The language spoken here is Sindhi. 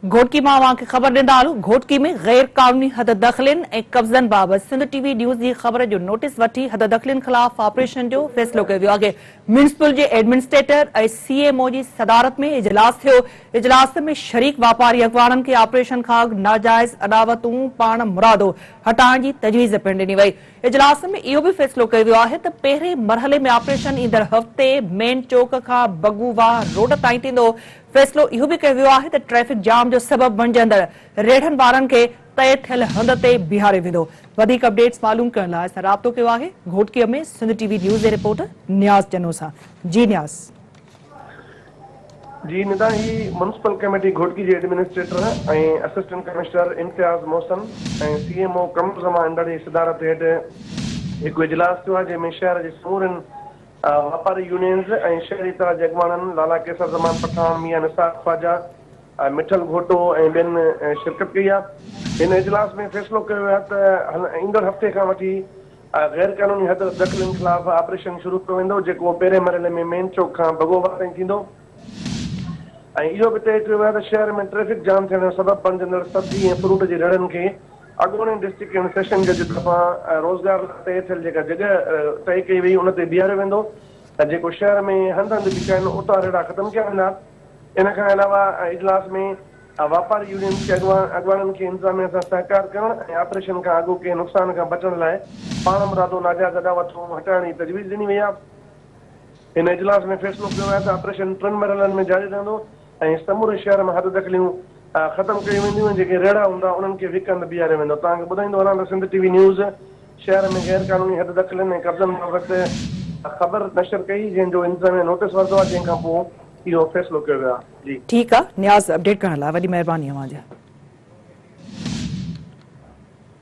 گهوٽڪي مان اوهان کي خبر ڏيندا هلون، گهوٽڪي ۾ غير قانوني حددخلين ۽ قبضن بابت سنڌ ٽي وي نيوز جي خبر جو نوٽيس وٺي حددخلين خلاف آپريشن جو فيصلو ڪيو ويو آهي، ميونسپل جي ايڊمنسٽريٽر ۽ سي ايم او جي صدارت ۾ اجلاس ٿيو، اجلاس ۾ شريڪ واپاري اڳواڻن کي آپريشن کان اڳ ناجائز اڏاوتون پاڻ مرادو هٽائڻ جي تجويز پڻ ڏني وئي، اجلاس ۾ اهو به فيصلو ڪيو ويو آهي ته پهرين مرحلي ۾ آپريشن ايندڙ هفتي مين چوڪ کان بگو واهه روڊ تائين ٿيندو، فيصلو اهو به ڪيو ويو آهي ته ٽريفڪ جام جو سبب بڻجندڙ ريڙهن وارن کي طئي ٿيل هنڌ تي بيهاريو ويندو. وڌيڪ اپڊيٽس معلوم ڪرڻ لاء اسان رابطو ڪيو آهي گهوٽڪيء ۾ سنڌ ٽي وي نيوز جي رپورٽر نياز چنو سان جي نياز. جي ندا هي ميونسپل ڪميٽي گهوٽڪي جي administrator ۽ assistant commissioner Imtiaz Mohsin ۽ C M O ڪمز مان انڊڙ جي صدارت هيٺ هڪ اجلاس ٿيو آهي جنهن ۾ شهر جي سمورين واپاري يونينز ۽ شهري اتحاد جي اڳواڻن لالا قيصر زمان پٺاڻ، ميان نثار خواجه، مٺل گهوٽو ۽ ٻين شرڪت ڪئي آهي. هن اجلاس ۾ فيصلو ڪيو ويو آهي ته ايندڙ هفتي کان وٺي غير قانوني حد دخلين خلاف آپريشن شروع ڪيو ويندو جيڪو پهرين مرحلي ۾ مين چوڪ کان بگوبا تائين ٿيندو ۽ اهو به طئي ڪيو ويو آهي ته شهر ۾ ٽريفڪ جام ٿيڻ جو سبب بڻجندڙ سبزي ۽ فروٽ جي ريڙهن کي اڳوڻي ڊسٽرڪٽ ڪنهن سيشن جج طرفان روزگار لاء طئي ٿيل جيڪا جڳهه طئي ڪئي وئي ان تي بيهاريو ويندو ۽ جيڪو شهر ۾ هنڌ هنڌ بيٺا آهن اتان ريڙها ختم ڪيا ويندا. ان کان علاوه اجلاس ۾ واپاري يونين جي اڳواڻن کي انتظاميا سان سهڪار ڪرڻ ۽ آپريشن کان اڳو ڪنهن نقصان کان بچڻ لاء پاڻمرادو ناجائز اڏاوتون هٽائڻ جي تجويز ڏني وئي آهي. هن اجلاس ۾ فيصلو ڪيو ويو آهي ته آپريشن ٽن مرحلن ۾ جاري رهندو. ۽ سموري شهر ۾ حد دخليون ختم ڪيون وينديون ۽ جيڪي ريڙها هوندا انهن کي وڪ هنڌ بيهاريو ويندو توهان کي ٻڌائيندو هلان ته سنڌ ٽي وي نيوز شهر ۾ غير قانوني حد دخلين ۽ قبضن بابت خبر نشر ڪئي جنهن جو انتظاميه نوٽس ورتو آهي جنهن کان پوء اهو فيصلو ڪيو ويو آهي جي. ٺيڪ آ نياز اپڊيٽ ڪرڻ لاء وڏي مهرباني اوهان جي.